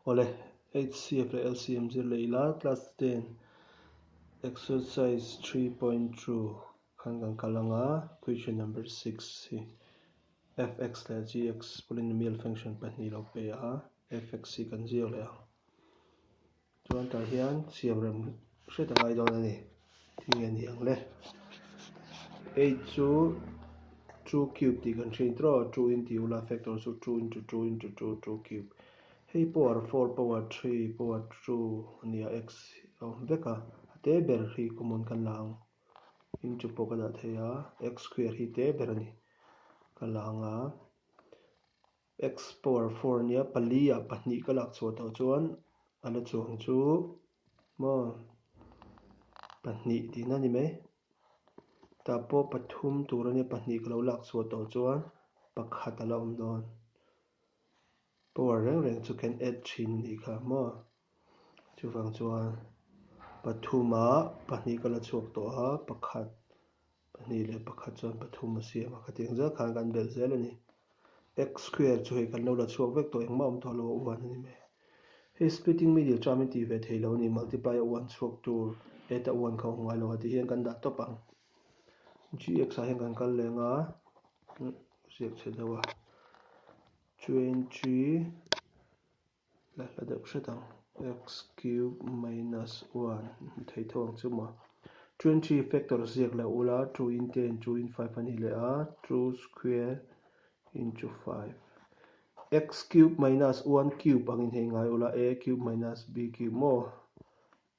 Awle, HCF leh LCM zir leh ila class ten exercise three point two khan kan kal anga question number six hi fx leh gx polynomial function pahnih lo peih a fx hi kan ziak leh ang. Chuan tah hian siam rem hriat a ngai dawn a ni. Tih nge ni ang le? Eight chu two cube tih kan hriat trawh a, two in tih u la, factor chu two into two into two, two cube. Hei power four, power three, power two a ni a, x a awm vek a, a te ber hi common kan la ang. Into pawh ka dah thei a, x square hi te ber a ni ka la ang a. Explore four nia pali ah pahnih ka lak chhuah tawh chuan a la chuang chu maw pahnih tihna ni mai tah pawh pathum tur a nia pahnih ka lo lak chhuah tawh chuan pakhat a la awm dawn power reng reng chu kan add thin a ni kha maw. Chuvang chuan pathuma pahnih ka la chhuak tawh a, pakhat, pahnih leh pakhat chuan pathum a siam a, ka tih ang zia khan kan belh zel a ni. X square chu hei kan lo la chhuak vek tawh engmah a awm tawh lo a uan a ni mai. Hei splitting middle term in tih ve thei lo a ni, multiply a uan chhuak tur add a uan kha awm ngai lo a tih hian kan dah tawp ang. Gx ah hian kan kal leh ang a, ziak chhe deuh a, twenty. Hla hla deuh hret ang. Xcube minus one theitho ang chu mah. Two and three factors ziak loh ula, two in ten, two in five ani leh a, two square into five. Xcube minus one cube ang inhei ngai ula, a cube minus b cube maw?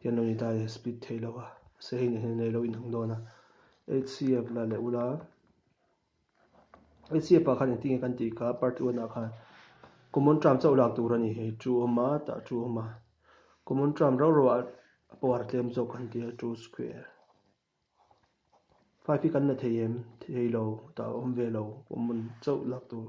Hian lo ni dai split theih loh a, mahse hei nihna nei lo inang dawn a, HCF la leh ula, HCF ah khan engtin nge kan tih kha party one ah khan common term chauh lak tur a ni hei, true awm a, tah true awm a, common term rau rau ah pawh har tlem zawk kan ti a, true square, five hi kan la thei em, thei lo, tah awm ve lo, common chauh lak tur.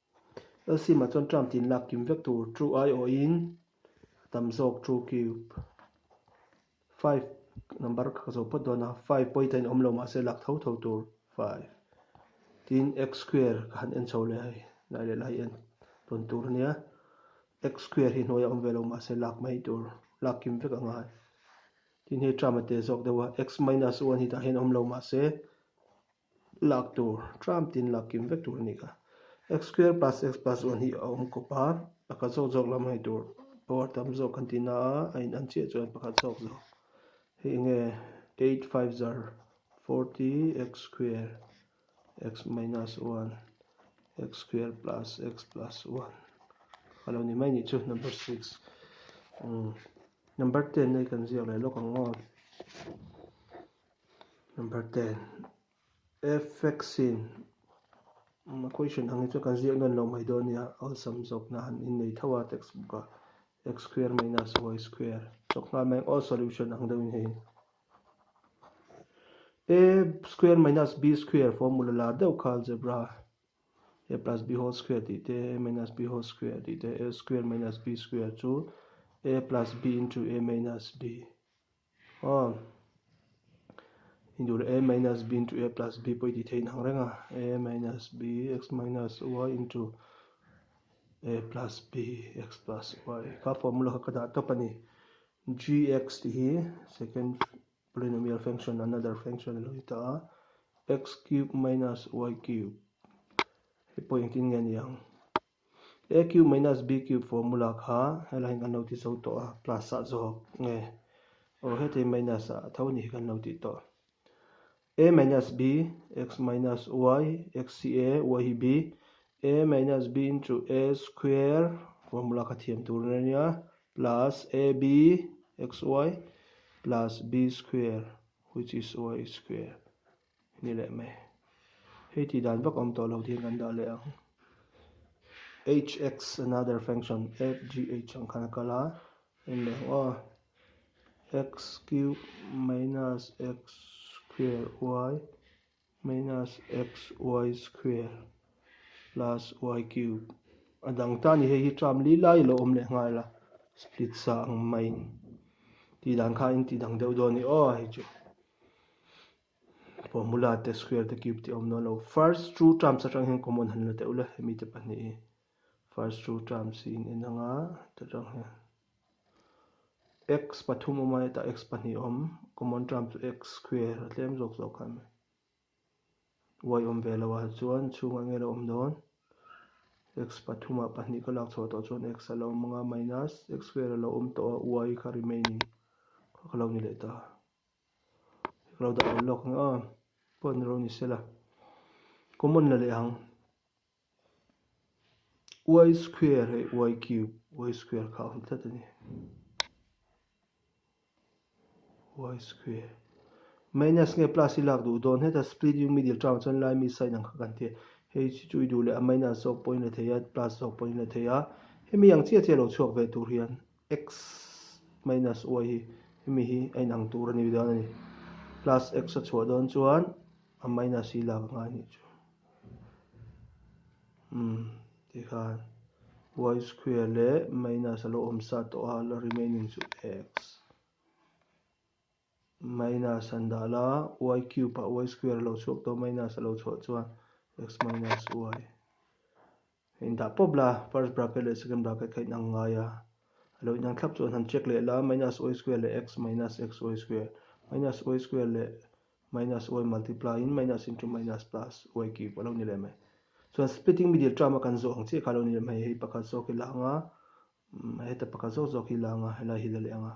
LCMah chuan Trump tin lak kim vek tur True aiawhin tam zawk True Cube five number ka zawh phawt dawn a, five pawh hi tlaiin a awm lo mahse lak tho tho tur five tin X square ka han en chho leh a, nai leh la hi en tawn tur a nia, X square hi hnuaia awm ve lo mahse lak mai tur lak kim vek a ngai. Tin hei Trump a teh zawk deuh a, X minus one hi tah hian a awm lo mahse, lak tur tram tin lak kim vek tur a ni ka. X square plus X plus one hi a awm kawp a, pakhat zawk zawk lam hai tur power tam zawk kan ti na a, a in an chiah chuan pakhat zawk zawk hei enge eight five s are forty X square X minus one X square plus X plus one ka lo ni mai ni chu number six umm number ten a kan ziak leh lawk ang aw. Number ten, Effects-in a question ang hi chuan kan ziak nawn loh mai dawn nia, awlsam zawkna han innei tho a textbook ah, x square minus y square chawk nghal mai ang aw solution ang deuhin hei in a square minus b square formula la deuh kha algebra a plus b whole square tih te a minus b whole square tih te a square minus b square chu a plus b into a minus b Aw i dur a minus b into a plus b pawh i tihtheih inang reng a, a minus b x minus y into a plus b x plus y kha formula kha ka dah tawp a ni. G x tih hi second polynomial function another function a lo ni ta a, x cube minus y cube hei pawh engtin nge a ni ang. A cube minus B cube formula kha helahin kan lo ti zo tawh a, plus ah zawk nge? Aw, hetei minus ah a tho ni hi kan lo tih tawh. A minus B, X minus Y, X hi A, Y hi B, A minus B into A square, formula kha thiam tur a nia, plus AB, X Y, plus B square, which is Y square. Ni leh mai. Hei tih dan vak awm tawh lo tih hian kan dah leh ang. Hx another function fgh ang khan a kal a, en leh ang aw. X cube minus x square y minus xy square plus y cube. A dang tan hi hei hi ṭam li lai lo awm leh nghal a, split sa ang mai. Tih dan kha a intih dang deuh dawn ni aw hei chu. Formula te, square te, cube te awm nual lo. First two terms atang hian common han la teh ula, hemi te pahnih hi first two terms hi in en ang a, ta tang hian x pathum awm a, hetah x pahnih a awm, common term chu x square a tlem zawk zawk khan mai. Y awm ve lo a chuan chhungah enge lo awm dawn? x pathumah pahnih ka lak chhuah tawh chuan x a lo awm ang a minus x square a lo awm tawh a y kha remaining kha ka lo ni leh ta a. Lo dah lo lock anga pawh ni rawh ni sela common la leh ang y square leh y cube y square kha awm tlat ani y square minus nge plus i lak duh dawn heta splitting middle tang chuan lai mi sign ang kha kan tia hei chu chu i duh leh a minus zawk pawhin la theia plus zawk pawhin la theia hemi ang chiah chiah lo chhuak ve tur hian. X minus y hi hemi hi a inang tur a ni dawn a ni. Plus x a chhuah dawn chuan a minus hi lak anga a nih chu. Umm, tikhan y square leh minus a lo awmsa tawh a, remaining chu x. Minus an dah la, y cube ah y square a lo chhuak tawh a, minus a lo chhuah chuan x minus y a indah pawp la, first bracket leh second bracket kha inang ngai a, a lo inang thlap chu an han check leh la, minus y square leh x minus xy square, minus y square leh minus y multiply in minus into minus plus y cube a lo ni leh mai. Chuan splitting middle term a kan zawh ang chiah kha a lo ni leh mai, hei pakhat zawk hi la ang a, heta pakhat zawk zawk hi la ang a, helai hi la leh ang a.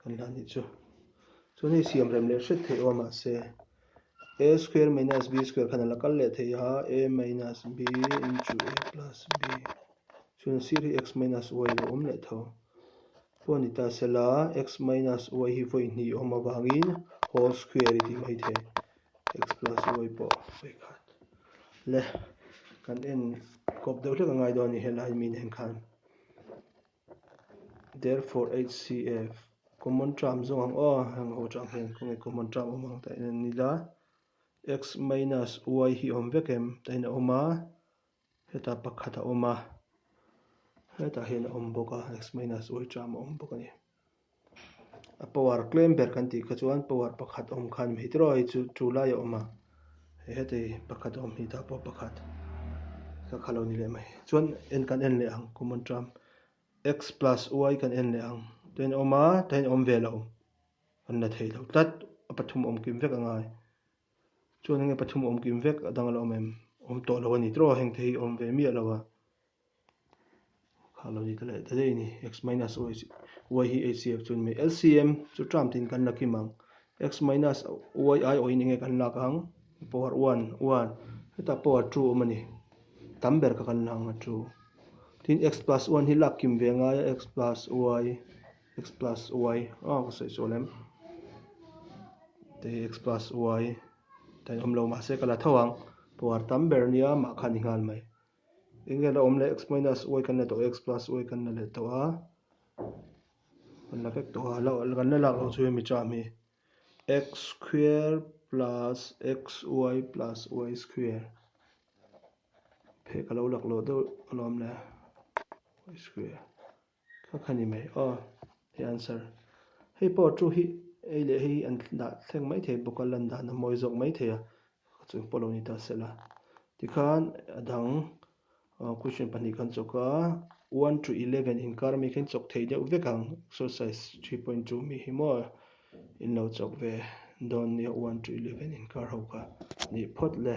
Kan la nih chu. Chuan hei siam rem leh hret theih a awm mah se, a square minus b square khan a la kal leh thei a, a minus b into a plus b. Chuan sir hi x minus y lo awm leh tho pawh a ni ta se la, x minus y hi vawi hnih awm avangin whole square i tih mai thei. X plus y pawh vawi khat le kan en kawp deuh hlek a ngai dawn a ni helai miin en khan. Therefore HCF, common term zawng ang aw, heng ho chang hian khawnge common term awm ang tah hian an ni la, x minus y hi awm vek em? Tah hian a awm a, hetah pakhat a awm a, hetah hian a awm bawk a, x minus y term a awm bawk a ni. a power klem ber kan tih kha chuan power pakhat awm khan mi tiraw hi chu chu lai a awm a hetei pakhat awm hi ta pawh pakhat ka kha lo ni leh mai chuan en kan en leh ang common trump x plus y kan en leh ang tua in a awm a tua in a awm ve lo kan la thei lo tlat a pathum awm kim vek ang a chuan enge pathum awm kim vek a dang a lo awm em awm tawh lo a ni tiraw heng te hi awm ve miah lo a. Kha lo ni ta leh ta daih ni. X minus y hi hcf chu ni. LCM chu term tin kan la kim ang. X minus y ai awhin enge kan lak ang? Power one, one. Hetah power two a awm a ni. Tam ber kha kan la ang a two. Tin x plus one hi lak kim ve a ngai a, x plus y, x plus y. Aw ka sawi chawl em. Tei x plus y. Tei awm lo mahse ka la tho ang. Power tam ber a nia, mahkhan i nghal mai. Eng nge la awm leh x minus y kan la tawh a x plus y kan la leh tawh a kan la fek tawh a la kan la lak lo chu hi mi chah mi x square plus xy plus y square phei ka lo lak lo deuh alawm le y square. Ka kha ni mai aw he answer hei pawh ṭu hi hei leh hei hi an dah thleng mai thei bawk a lan dan a mawi zawk mai thei a ka chu pawh lo ni ta sela tikhan a dang aw question pahnih kan chawk a one to eleven inkar mi khain chawk thei deuh vek ang exercise three point two mi hi maw in lo chawk ve dawn nia one to eleven inkar ho ka nih phawt le.